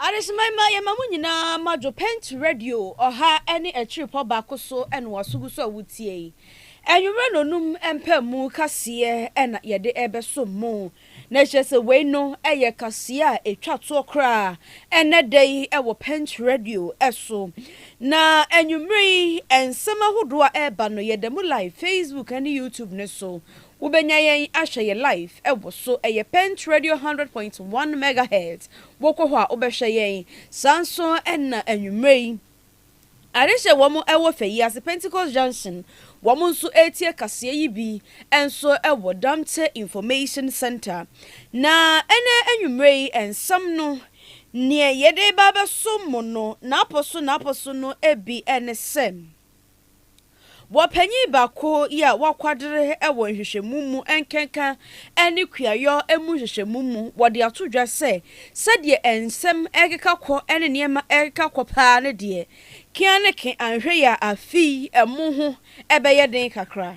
Adesemma yi ma yɛma mo nyinaa madwo Pent Radio ɔha ne akyirepɔ baako so na waso gu so a wotie yi. Anwummerɛ nnɔnum mpaemu kaseɛ na yɛde ɛbɛsom mo. Na kyerɛ sɛ wei no yɛ kaseɛ a ɛtwa toɔ koraa ɛnnɛ da yi wɔ Punch Radio so. Na anwummerɛ yi nsɛm ahodoɔ a ɛreba no yɛda mu live Facebook ne YouTube no so. Wobɛnya yɛn ahwɛ yɛn live wɔ so. Ɛyɛ Punch Radio hundred point one megahertz. Wokɔ hɔ a wobɛhwɛ yɛn. Saa nso na anwummerɛ yi Adehyɛ wɔn wɔ fɛ yi ase Pentecost Junction wɔn nso retie kaseɛ yi bi nso wɔ Damptɛ Information Centre na ɛnɛ anwummerɛ yi nsɛm no neɛ yɛde reba abɛso mo no n'apɔ so n'apɔ so no bi ne sɛ. Wɔ panyin baako yi a wakwadere wɔ nhwehwɛmu mu nkenka ne kuayɔ mu nhwehwɛmu mu, wɔde ato dwa sɛ sɛdeɛ nsɛm rekeka kɔ ne nneɛma rekeka kɔ paa no deɛ, keaneke anhwɛ yɛ a afei ɛmo ho bɛyɛ den kakra.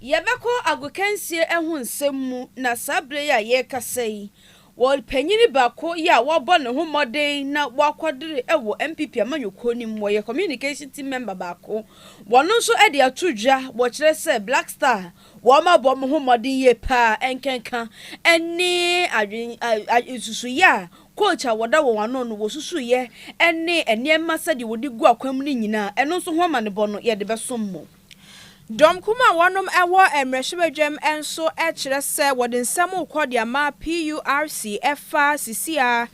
Yɛbɛkɔ agokansie ɛho nsɛm mu na saa berɛ yi a yɛrekasa yi, ɔpanyin baako yi a wabɔ ne ho mmɔden na wakɔdere wɔ NPP amanyɔkuo no mu, ɔyɛ communication team member baako, wɔno nso de ato dwa, wɔkyerɛ sɛ Black Star wɔabɔ wɔn ho mmɔden yie pa ara, ɛnkenka ne adwen nsusuiɛ a coach a wɔda wɔn ano no wɔsusuiɛ ne nneɛma sɛdeɛ wɔde gu akwan mu no nyinaa, ɛno nso ho amanebɔ no yɛde bɛsom mo. Dɔmkuw a wɔnom wɔ mmrahyɛbadwam nso kyerɛ sɛ wɔde nsɛm rekɔ de ama PURC ɛfa sisi a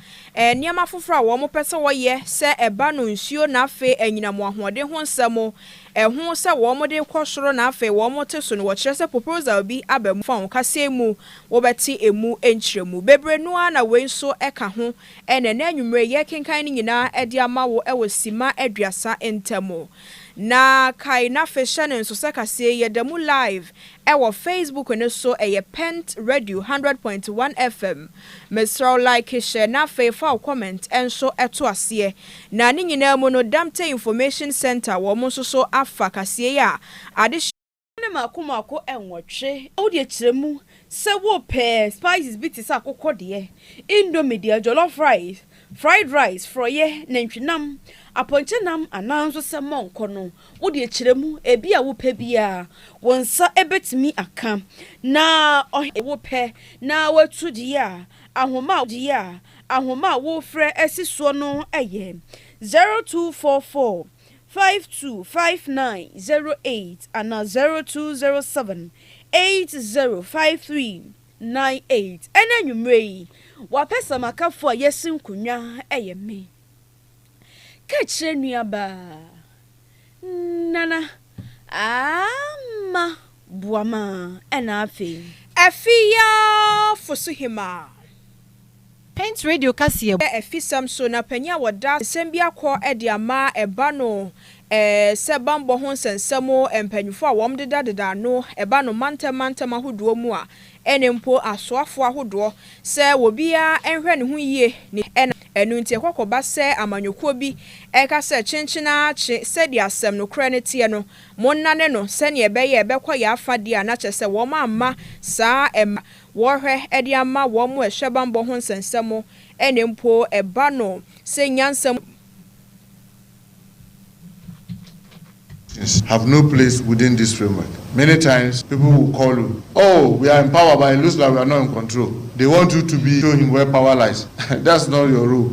nneɛma afoforɔ a wɔn pɛ sɛ wɔyɛ sɛ ɛba no nsuo na afei anyinam wɔn ahoɔden ho nsɛm ɛho sɛ wɔn de rekɔ soro na afei wɔn te so no wɔkyerɛ sɛ proposal bi aba mu fa wɔn kaseɛ mu wɔbɛte emu nkyerɛmu bebree no ara na wei nso ɛka ho ɛna ɛnɛ anwummere yɛkenkan no nyinaa ɛde ama wo ɛwɔ sima aduasa ntamu. Na kae na afei hyɛ no nso sɛ kaseɛ yi yɛda mu live ɛwɔ Facebook no so ɛyɛ Pent Radio hundred point one FM. Mesrɛ wo like hyɛ na afei fa wo comment nso to aseɛ. Na ne nyinaa mu no Damte Information Centre wɔn nso so afa kaseɛ yi a adehyeɛ. Wo ne mako mako nwɔtwe. Wo deɛ kyerɛ mu sɛ wo pɛ spices bi te sɛ akokɔ deɛ, indomie deɛ, jollof rice, fried rice, frɔeɛ, nantwi nam, apɔnkye nam anaa nso sɛ mɔnkɔ no, wo deɛ kyerɛ mu, ebi a wo pɛ biara wo nsa bɛtumi aka. Na ɔhene a wo pɛ na watu deɛ a, ahoma a deɛ a, ahoma a wo frɛ si soɔ no yɛ, 0244. five two five nine zero eight anaa zero two zero seven eight zero five three nine eight. Ɛna anwummere yi, w'apɛsamakafo a yɛasi nkonnwa yɛ me. Ka kyerɛ nuabaa Nana Ama Boamah ɛna afei. Afei ara fo so hemmaa. Paint Radio kaseɛ mu. Afisɛm so na panin a wɔda nsɛm bi akɔ de ama ɛba no sɛ bammɔ ho nsɛnsɛm mpanyimfoɔ a wɔdedadeda ano ba no mantam mantam ahodoɔ mu a ɛne mpo asoafoɔ ahodoɔ sɛ obiara nhwɛ ne ho yie ne ɛna ɛno nti ɛkɔ kɔba sɛ amanyɔkuo bi ka sɛ kyenkyen ara kye sɛdeɛ asɛm nokorɛ no teɛ no monnane no sɛdeɛ ɛbɛyɛ ɛbɛkɔ yɛn afa deɛ a na kyerɛ sɛ wɔamma saa ɛma wɔhwɛ de ama wɔn a ɛhyɛ bammɔ ho nsɛnsɛm, ɛna mpo ɛba no sɛ nyansa mu. have no place within this framework. Many times people will call u oh we are in power but it looks like we are not in control, they want u to be show him where power lies, that's not your role.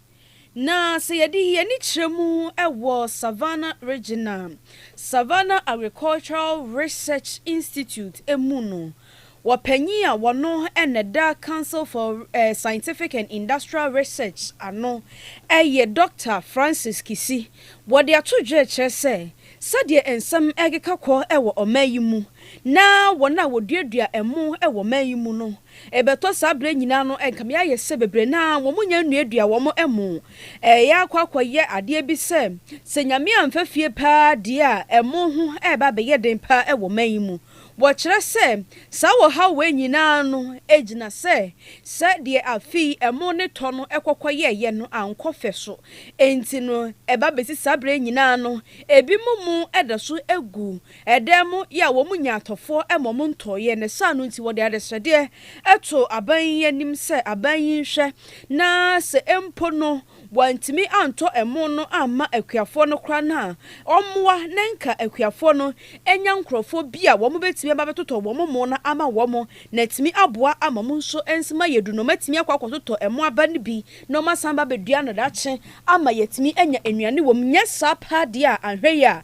Na sɛ yɛde yɛn ani kyerɛ mu wɔ Savannah Regional Savannah Agricultural Research Institute mu no, wɔpanyin a wɔno na ɛda Council for Scientific and Industrial Research ano yɛ Dɔkta Francis Kissi. Wɔde ato dwa kyerɛ sɛ, sɛdeɛ nsɛm rekeka kɔ wɔ ɔman yi mu na wɔn a wɔduadua ɛmo wɔ ɔman yi mu no Ɛbɛtɔ saa berɛ nyinaa no nka me ayɛ sɛ bebree no ara wɔn nnya nnuadua wɔn ɛmo. Ɛyɛ akɔ akɔ yɛ adeɛ bi sɛ, sɛ Nyame amfa fie paa deɛ a ɛmo ho ɛreba abɛyɛ den paa ɛwɔ man yi mu. Wɔkyerɛ sɛ saa ɔhaw wei nyinaa no ɛgyina sɛ sɛ deɛ afe yi ɛmo ne tɔ no ɛkɔkɔ yɛɛyɛ no ankɔ fɛ so ɛnti no ɛba bɛsi saa berɛ nyinaa no ɛbi mo mo ɛda so ɛgu Ɛdan mu yɛ a wɔn nya atɔfoɔ ma wɔn ntɔeɛ, ne saa no nti wɔde adesrɛdeɛ too aban yi anim sɛ aban yi nhwɛ na sɛ mpo no wɔantumi antɔ ɛmo no amma akuafoɔ no koraa no a, wɔmmoa na nka akuafoɔ no nya nkorɔfoɔ bi a wɔn bɛtumi aba abɛtotɔ wɔn mo no ama wɔn na atumi aboa ama wɔn nso nso ma yɛdu no wɔn atumi akɔ akɔtotɔ ɛmo aba no bi na wɔn asan aba abɛdua no daakye ama yɛatumi anya nnuane wɔ mu, nyɛ saa paa deɛ a anhwɛ yie a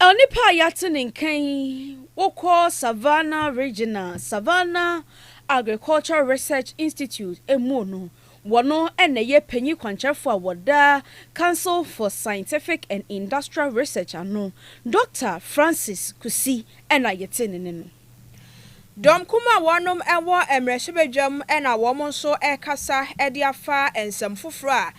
Onipa a yɛate ne nka yi, wokɔ Savannah Regional Savannah Agricultural Research Institute mu no, wɔno na ɛyɛ panyin kwankyerɛfo a wɔda Council for Scientific and Industrial Research ano, Dɔkta Francis Kusi na yɛte ne nne no. Dɔm kumaa a wɔnom wɔ mmrahyɛbadwam na wɔn nso rekasa de afa nsɛm foforɔ a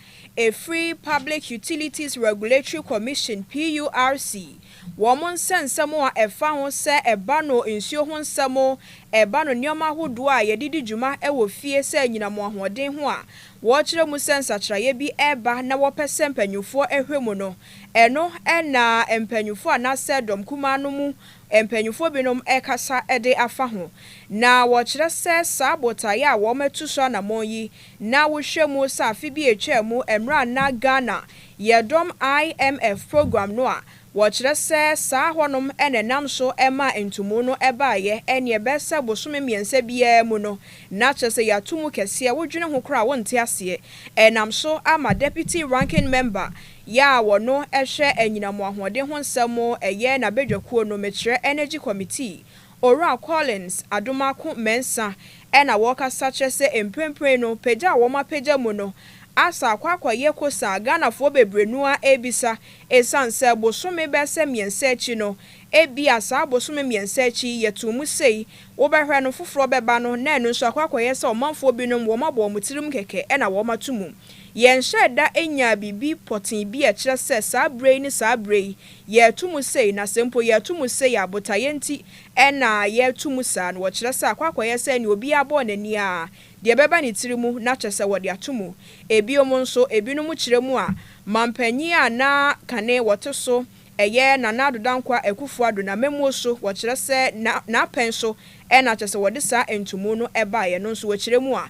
ɛfiri Public Utilities Regulatory Commission, PURC, wɔn nsɛnsɛm a ɛfa ho sɛ ɛba no nsuo ho nsɛm, ɛba no nneɛma ahodoɔ a yɛde di dwuma wɔ fie sɛ anyinam ahoɔden ho a wɔkyerɛ mu sɛ nsakyeraeɛ bi reba na wɔpɛ sɛ mpaninfoɔ hwɛ mu no, ɛno na mpaninfoɔ anaasɛ dɔm kumaa no mu Mpanyimfo binom rekasa de afa ho, na wɔkyerɛ sɛ saa botae a wɔatu so anammɔn yi, na wohwɛ mu sɛ afe bi a etwaa mu mmerɛ a na Ghana yɛ dɔm IMF program no a wɔkyerɛ sɛ saa hɔnom na ɛnam so maa ntumu no baeɛ ɛneɛ bɛsɛ bosome mmiɛnsa biara mu no na kyerɛ sɛ yɛato mu kɛseɛ wodwene ho koraa a wonte aseɛ ɛnam so ama Deputy Ranking Member Yɛ a wɔno ɛhwɛ anyinam ahoɔden ho nsɛm ɛyɛ n'abadwakuo no mekyerɛ Energy Committee, Owura Collins Adomako Mensah ɛna wɔkasa kyerɛ sɛ mprenpren no pagya a wɔn apagya mu no asa akɔ akɔyɛ kosa a Ghanafoɔ bebree no ara ɛrebisa ɛsiane sɛ bosome bɛsɛ mmiɛnsa akyi no ɛbia saa bosome mmiɛnsa akyi yi yɛtoo mu sei wobɛhwɛ no foforɔ bɛba no na ɛno nso akɔ akɔyɛ sɛ ɔmanfoɔ binom wɔn abɔ wɔn tirim kɛkɛ ɛna wɔn ato mu Yɛnhyɛɛ da nyaa biribi pɔtee bi a ɛkyerɛ sɛ saa berɛ yi ne saa berɛ yi yɛreto mu sei, na sɛ mpo yɛreto mu sei a, botaeɛ nti na yɛreto mu saa no. Wɔkyerɛ sɛ akɔ akɔyɛ sɛ nea obiara bɔɔ n'ani ara, deɛ ɛbɛba ne tiri mu na kyɛ sɛ wɔde ato mu. Ebiom nso, ebinom kyerɛ mu a, manpanin a na kane wɔte so, ɛyɛ Nana Addo Dankwa Akufo-Addo n'amammuo so, wɔkyerɛ sɛ na n'apɛn so na kyɛ sɛ wɔde saa ntomu no baeɛ no nso wɔkyerɛ mu a,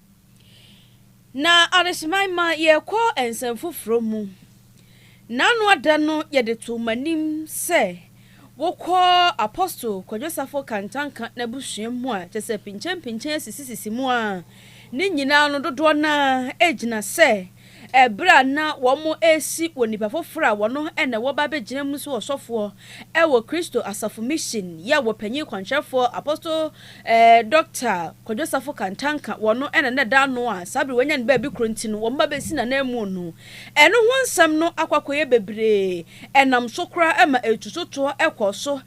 Na adekyema yi ma yɛkɔ nsɛm foforɔ mu. N'anoa da no yɛde too m'anim sɛ wokɔ Apostle Kwadwo Safo Kantanka n'abusua mu a kyerɛ sɛ pinkyɛmpinkyɛn sisisisi mu a ne nyinaa no dodoɔ no ara gyina sɛ Bere a na wɔresi wɔ nnipa foforo a wɔno na wɔba abegyina mu so ɔsɔfoɔ wɔ Kristo Asafo Mission yɛ wɔ Panyin Kwankyerɛfoɔ Apostle Dɔkta Kwadwo Safo Kantanka wɔno na na ɛda ano a saa bere wɔanya no baabi koro nti no wɔba bɛsi no ananmu no ɛno ho nsɛm no akɔ akɔyɛ bebree ɛnam so koraa ma ɛtu so toɔ kɔ so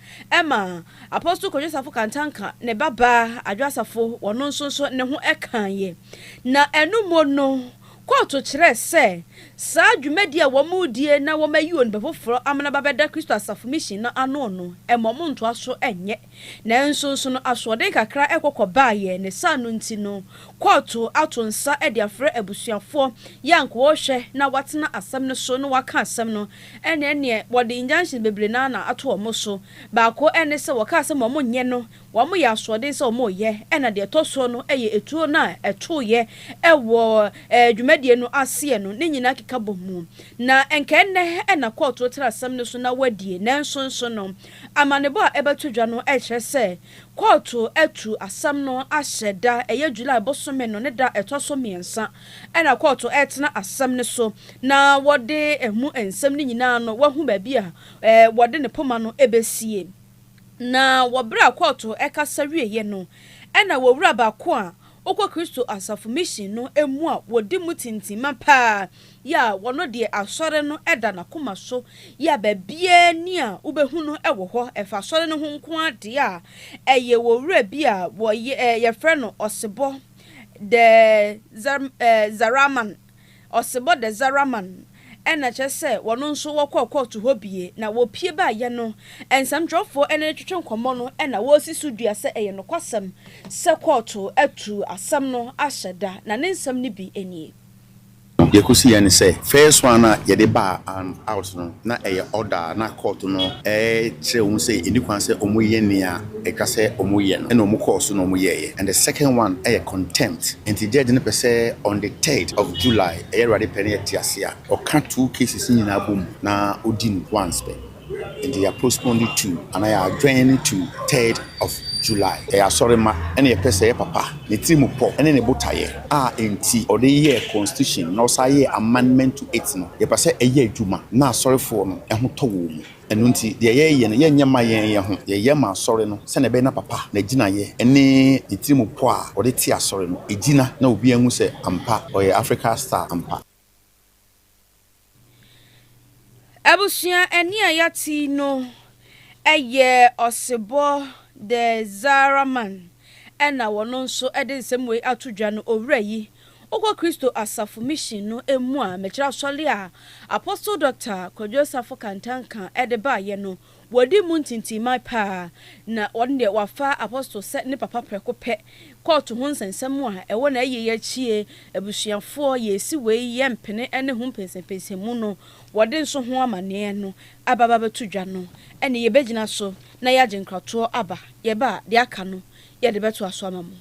ma Apostle Kwadwo Safo Kantanka ne babaa Adwoa Safo wɔno nso so ne ho kaeɛ na ɛno mu no Kɔɔto kyerɛɛ sɛ saa dwumadi a wɔredie na wɔayi onipa foforɔ amena bɛbɛda Kristo Asafo Mission no ano no, ɛma wɔntoa so nyɛ. Nanso nso no, asoɔden kakra kɔ kɔbaeɛ, ne saa no nti no, kɔɔto ato nsa de afrɛ abusuafoɔ yɛ a anka wɔrehwɛ na wɔatena asɛm no so na wɔaka asɛm no, ɛnneɛ neɛ wɔde injunctions bebree no ara na ato wɔn so. Baako ne sɛ wɔkaa sɛ ma wɔnyɛ no Wɔyɛ asoɔden sɛ wɔyɛ, ɛna deɛ ɛtɔ soɔ no yɛ ɛtuo no a ɛtoeɛ wɔ dwumadie no aseɛ no ne nyinaa keka bɔ mu. Na nka ɛnnɛ na kɔɔto tra asɛm no so na wɔadie, nanso nso no amanebɔ a ɛbɛto dwa no kyerɛ sɛ kɔɔto atu asɛm no ahyɛ da ɛyɛ July bosome no ne da ɛtɔ so mmiɛnsa na kɔɔto retena asɛm no so na wɔde ɛmu nsɛm no nyinaa no wɔahu baabi a wɔde ne poma no bɛsie. Na wɔ bere a kɔɔto kasa wieeɛ no, ɛna wɔwura baako a ɔkɔ Kristo Asafo Mission no mu a wɔdi mu tintimma paa yi a ɔno deɛ Asɔre no da n'akoma so yi a baabiara nni a wobɛhu no wɔ hɔ ɛfa Asɔre no ho nko ara deɛ a ɛyɛ owura bi a wɔyɛ, wɔfrɛ no Osebɔ de Zaraman. Ɔsebɔ Dezaraman na kyerɛ sɛ wɔn nso wɔkɔɔ kɔɔto hɔ bie na wɔpue baeɛ no, nsɛmtwerɛfoɔ ne no twetwe nkɔmmɔ no na wɔresi so dua sɛ ɛyɛ nokwasɛm sɛ kɔɔto atuu asɛm no ahyɛ da, na ne nsɛm no bi nie. Deɛ ɛkɔsiiɛ ne sɛ, first one a yɛde baa and out no, na ɛyɛ order a na kɔɔto no rekyerɛ wɔn sɛ ɛnni kwan sɛ wɔyɛ nea. ɛka sɛ ɔmo yɛ no ɛna ɔmo kɔɔ so na ɔmo yɛɛyɛ and the second one ɛyɛ contempt nti judge no pɛ sɛ on the third of July ɛyɛ awurade pɛ na yɛte ase a ɔka two cases no nyinaa bɔ mu na ɔdi no once pɛ nti yɛ postpone no to anaa yɛ adjourn no to third of July ɛyɛ asɔre ma ɛna yɛpɛ sɛ ɛyɛ papa ne tiri mu pɔ ɛne ne botaeɛ a ɛnti ɔde yɛɛ constitution na ɔsan yɛɛ amendment to it no yɛpɛ sɛ ɛyɛ adwuma na asɔrefoɔ no ɛho tɔ wɔn mu. Ɛno nti, deɛ yɛyɛ no, yɛnyɛ mma yɛn yɛn ho. Yɛyɛ ma Asɔre no sɛdeɛ ɛbɛyɛ na papa, n'agyinaeɛ, ne ne tirim pɔ a ɔde te Asɔre no, ɛgyina, na obiara nhu sɛ ampa, ɔyɛ Africa Star ampa. Abusua ɛnne a yɛate yi no yɛ Osebɔ the Zahra man na wɔno nso de nsɛm wei ato dwa no, Owura yi Wokɔ Kristo Asafo Mission no mu a, mekyerɛ asɔre a Apostle Dɔkta Kwadwo Asafo Kantanka de baeɛ no, wɔadi mu ntintimman paa, na ɔno deɛ wafa Apostle sɛ ne papa prɛko pɛ. Kɔɔto ho nsɛnsɛm a ɛwɔ n'ayieyi akyi yi, abusuafoɔ, yɛresi wei yɛmpene ne ho mpɛnsɛmpɛnsɛmu no, wɔde nso ho amanneɛ no aba abɛto dwa no, ɛnneɛ yɛbɛgyina so na yɛagye nkratoɔ aba. Yɛba a, deɛ aka no yɛde bɛtoa so ama mo.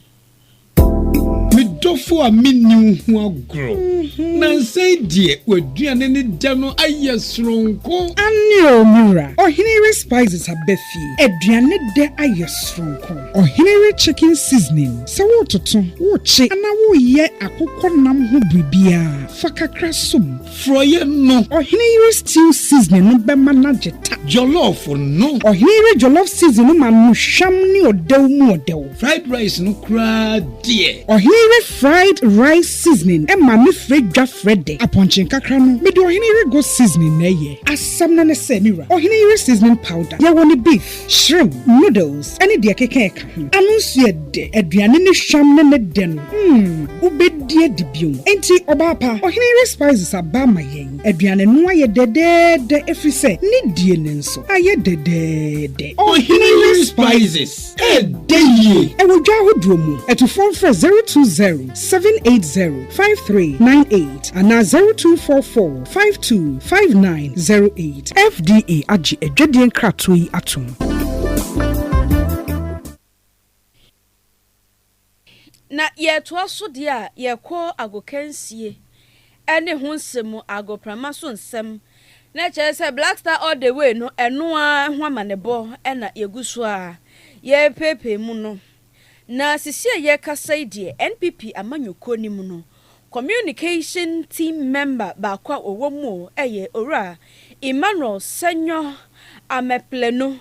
Me dɔfo a menni wo ho agorɔ. Mhm. Nansa yi deɛ w'aduane ne dɛ no ayɛ soronko. Aane o, me wura. Ɔhene re spices aba fie. Aduane dɛ ayɛ soronko. Ɔhene re chicken seasoning. Sɛ woretoto, worekye anaa woreyɛ akokɔ nam ho biribiara, fa kakra som. Frɔeɛ no. Ɔhene yere stew seasoning no bɛma no agye ta. Jollof no. Ɔhene yere jollof seasoning no ma no hwam ne ɔdɛw mu ɔdɛw. Fried rice no koraa deɛ. Ɔhene yere fried rice seasoning ma me frɛ dwa frɛ dɛ. Apɔnkye nkakra no, mede ɔhene yere goat seasoning na ɛyɛ. Asɛm no ne sɛ, me wura, ɔhene yere seasoning powder, yɛwɔ no beef. Shrimp, noodles ne deɛ ɛkeka ɛka ho. Ano nso yɛ dɛ. Aduane ne hwam ne ne dɛ no, mm, wobɛdi adi bio. Enti, ɔbaa pa, ɔhene yere Spices aba ama yɛn. Aduane no ayɛ dɛdɛɛdɛ ɛfiri sɛ ne die no nso ayɛ dɛdɛɛdɛ. Ɔhene yere Spices, ɛdɛ yie! Ɛwɔ dwa ahodoɔ mu. Atufoɔ mfrɛ 020 780 5398 anaa 0244 Five two five nine zero eight. FDA agye adwadie nkratoɔ yi atom. Na yɛtoa so deɛ a yɛkɔ agokansie ne ho nsɛm mu, agoprama so nsɛm. Na kyerɛ sɛ Black Star All The Way no, ɛno ara ho amanebɔ na yɛgu so a yɛrepeepee mu no. Na sisi a yɛrekasa yi deɛ NPP amanyɔkuo no mu no, communication team member baako a ɔwɔ mu yɛ Owura Emmanuel Sanyɔ Ameplanu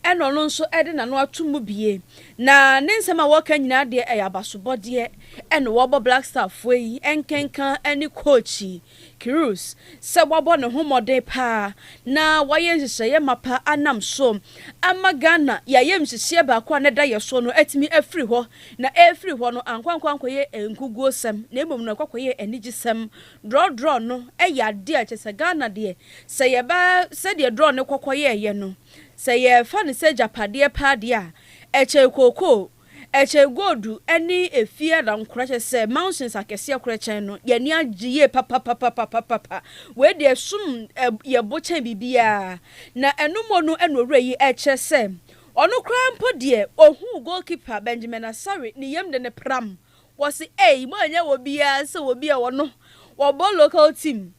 ɛna ɔno nso de n'ano ato mu bie. Na ne nsɛm a ɔreka nyinaa deɛ ɛyɛ abasobɔdeɛ ɛna ɔrebɔ Black Star foɔ yi nkenka ne coach yi Kirus sɛ wabɔ ne ho mmɔden paa na wayɛ nhyehyɛeɛ mapa anam so ama Ghana yɛn ayamhyehyeɛ baako a na ɛda yɛn so no atumi afiri hɔ na ɛrefiri hɔ no ankɔ ankɔ ankɔyɛ nkuguosɛm na mmom no ɛkɔ akɔyɛ anigyesɛm. Drɔ drɔ no yɛ adeɛ a kyerɛ sɛ Ghana deɛ sɛ yɛba sɛdeɛ drɔ no kɔ kɔyɛeɛ no sɛ yɛfa no sɛ agyapadeɛ paa deɛ a ɛkyɛn kookoo. Ɛkyɛn Godu ne efie a na nkora kyerɛ sɛ mountains akɛseɛ korɛ kyɛn no, yɛn ani agye yie papapapapapapa. Wei deɛ ɛsom yɛn bo kyɛn biribiara. Na ɛno mmɔ no na owura yi rekyerɛ sɛ ɔno koraa mpo deɛ ɔhuu goalkeeper Benjamin Asare ne yam de no pram. Wɔse ei moanyɛ obiara sɛ obi a ɔno ɔbɔ local team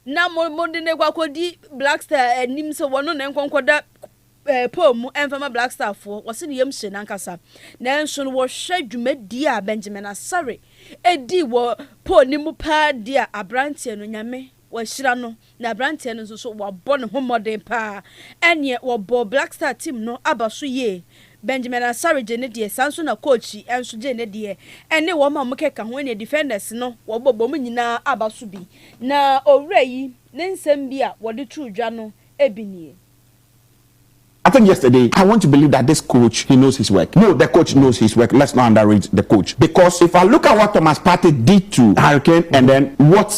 Na mo, mode no rekɔ akɔdi Black Star anim sɛ wɔno ne nkɔ nkɔda eh, pole mu ɛmfa ma Black Star foɔ. Wɔse ne yam hye no ankasa. Nanso no wɔhwɛ dwumadie a Benjamin Asare ɛdi wɔ pole no mu paa deɛ a, abranteɛ no Nyame wahyira no. Na abranteɛ no nso so wabɔ ne ho mmɔden paa. Ɛneɛ wɔbɔɔ Black Star team no aba so yie. Benjamin Asare gyee ne deɛ, saa ara nso na Kochi nso gyee ne deɛ, ɛne wɔn a wɔkeka ho, ɛne Defenders no, wɔbobom nyinaa aba so bi. Na owura yi ne nsɛm bi a wɔde too dwa no bi nie. I think yesterday I want to believe that this coach he knows his work no the coach knows his work let's not underrate the coach because if I look at what Thomas Partey did to Harry Kane and then what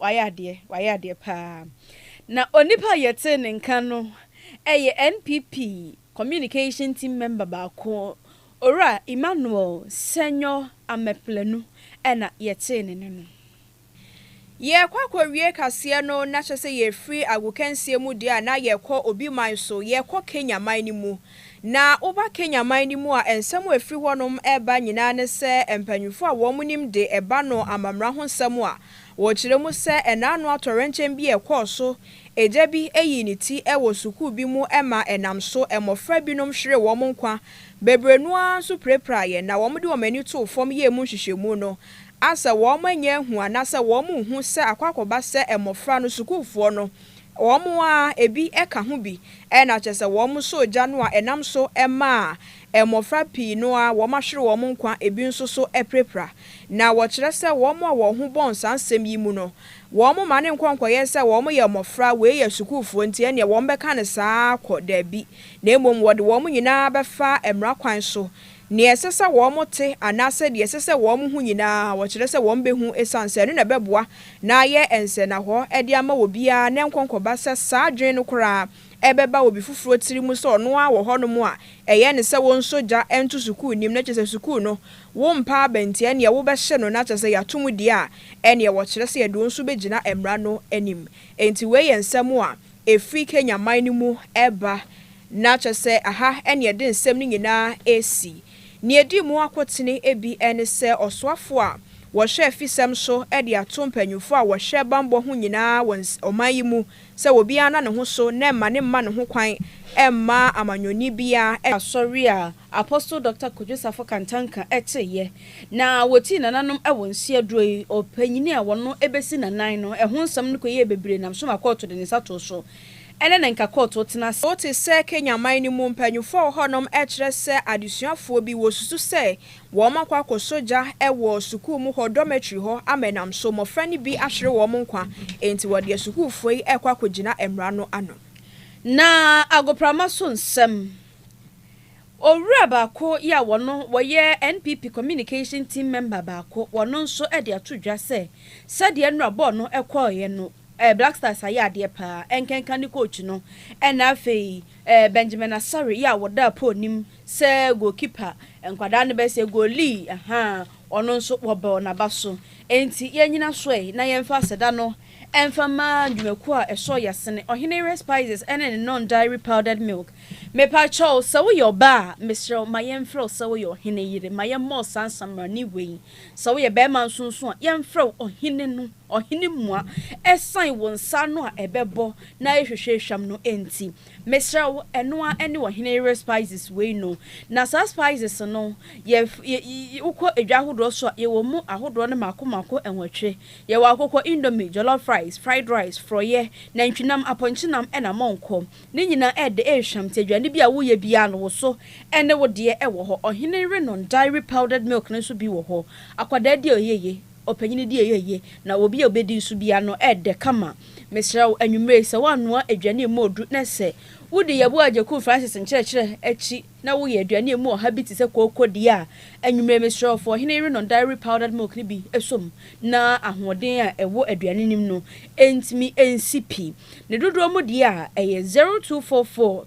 Wayɛ adeɛ, wayɛ adeɛ paa. Na onipa a yɛtee ne nka no yɛ NPP Communication Team Member baako, Owura Emmanuel Sɛnyɔ Ameplanu na yɛtee ne nne no. Yɛrekɔ akɔwie kaseɛ no, na kyerɛ sɛ yɛrefiri agokansie mu deɛ a, na yɛrekɔ Obi man so, yɛrekɔ Kenya man no mu. Na woba Kenya man no mu a, nsɛm a ɛfiri hɔnom ba nyinaa ne sɛ mpanyimfoɔ a wɔnim de ɛba no amammerɛ ho nsɛm a wɔkyerɛ mu sɛ ɛnaano atɔwrɛnkyɛm bi a ɛkɔɔ so, agya bi yii ne ti wɔ sukuu bi mu ma ɛnam so mmɔfra binom hweree wɔn nkwa, bebree no ara nso pirapiraeɛ, na wɔde wɔn ani too fam yɛɛ mu nhwehwɛmu no a sɛ wɔannya anhu anaasɛ wɔanhu sɛ akɔ akɔba sɛ mmɔfra no sukuufoɔ no Wɔn a ebi ka ho bi na kyerɛ sɛ wɔsɔɔ gya no a ɛnam so maa mmofra pii no ara wɔahwere wɔn nkwa, ebi nso so apirapira. Na wɔkyerɛ sɛ wɔn a wɔn ho bɔn saa nsɛm yi mu no, wɔmma no nkɔ nkɔyɛ sɛ wɔyɛ mmofra, wei yɛ sukuufo nti ɛnneɛ wɔbɛka no saa ara kɔ, dabi, na mmom wɔde wɔn nyinaa bɛfa mmara kwan so Nea ɛsɛ sɛ wɔte anaasɛ nea ɛsɛ sɛ wɔhu nyinaa wɔkyerɛ sɛ wɔbehu esiane sɛ ɛno na ɛbɛboa na ayɛ nsɛnnahɔ de ama obiara na ɛnkɔ nkɔba sɛ saa adwene no koraa ɛbɛba obi foforo tirim sɛ ɔno ara wɔ hɔnom a ɛyɛ no sɛ wonsɔ gya nto sukuu nim na kyerɛ sɛ sukuu no wompa aba nti ɛnneɛ wobɛhye no na kyerɛ sɛ yɛato mu deɛ a ɛnneɛ wɔkyerɛ sɛ yɛde wɔn nso bɛgyina mmara no anim. Enti wei yɛ nsɛm a ɛfiri Kenya man no mu reba Ná kyerɛ sɛ aha na ɛde nsɛm no nyinaa resi. Nea edi mu akotene bi ne sɛ ɔsoafo a wɔhyɛ afisɛm so de ato mpanyimfo a wɔhwɛ bammɔ ho nyinaa wɔ ɔman yi mu sɛ obiara nna ne ho so na ɛmma no mma ne ho kwan mma amanyɔni biara ne asɔre a Apostle Dɔkta Kojo Sarfo Kantanka teeɛ na wɔtii nananom wɔ nsi aduro yi ɔpanyin a wɔno bɛsi nanan no ho nsɛm no kɔyɛɛ bebree nam so ma kɔɔto de ne nsa too so. Ɛnɛ na nka kɔɔto tena ase. Wote sɛ Kenya man no mu mpanyimfo a wɔwɔ hɔnom kyerɛ sɛ adesuafoɔ bi wɔresusu sɛ wɔakɔ akɔsɔ gya wɔ sukuu mu hɔ dormitory hɔ ama ɛnam so mmɔfra no bi ahwere wɔn nkwa enti wɔde asukuufoɔ yi rekɔ akɔgyina mmara no ano. Na agoprama so nsɛm. Owura baako yi a ɔno ɔyɛ NPP communication team member baako ɔno nso de ato dwa sɛ sɛdeɛ nnora bɔɔl no kɔeɛ no, Eh, Black Stars ayɛ adeɛ paa, ɛnkenka ne coach no, ɛna afei eh, Benjamin Asare yi a wɔdaa Paul nim sɛ goal keeper, nkwadaa no bɛɛ sɛ goalie ahaa, ɔno nso wɔbɔɔ naba so. Enti yɛnyina so ɛ, na yɛmfa aseda no ɛmfa mma dwumakuo a ɛsɔɔ yɛasene, Ɔheneyere Spices ɛne ne Non Dairy Powdered Milk. Mepa kyɛ wo, sɛ woyɛ ɔbaa a, mesrɛ wo ma yɛmfrɛ wo sɛ woyɛ Ɔheneyere, ma yɛmmɔ wo saa nsammarani wei. Sɛ woyɛ barima nso nso a, yɛmfrɛ wo Ɔhene no. Ɔhene mua, ɛsan wo nsa ano a ɛbɛbɔ na ahwehwɛ ehwam no nti. Mesrɛ wo, ɛno ara ne ɔhene yere spices wei no. Na saa spices no, yɛ yɛ yɛ wokɔ edwa ahodoɔ so a, yɛwɔ mu ahodoɔ no mako mako nwɔtwe. Yɛwɔ akokɔ indomie, jollof rice, fried rice, forɔyɛ, nantwinam, apɔnkyenam ɛna mɔnkɔ. Ne nyinaa ɛɛdɛ, ɛɛhwam nti aduane bi a woyɛ biara no wo so ɛne wo deɛ ɛwɔ hɔ. Ɔhene yere non dairy powdered milk no nso bi wɔ hɔ. Akwadaa di a ɔyɛ yie. Ɔpanyin di a ɛyɛ ye, na obi a obedi nso bi ano yɛ dɛ kama. Mesrɛ wo, anwummere yi, sɛ woanoa aduane a emu ɔduru na sɛ wudi Yeboah Agyeku Francis nkyerɛkyerɛ akyi na woyɛ aduane a emu ɔha bi te sɛ kooko di a, anwummere yi, mesrɛ wo, fa Ɔhene Yere No Dairy Powdered Milk no bi sɔ mu na ahoɔden a ɛwɔ aduane no mu no ntumi nsi pi. Ne dodoɔ mu deɛ a, ɛyɛ zero two four four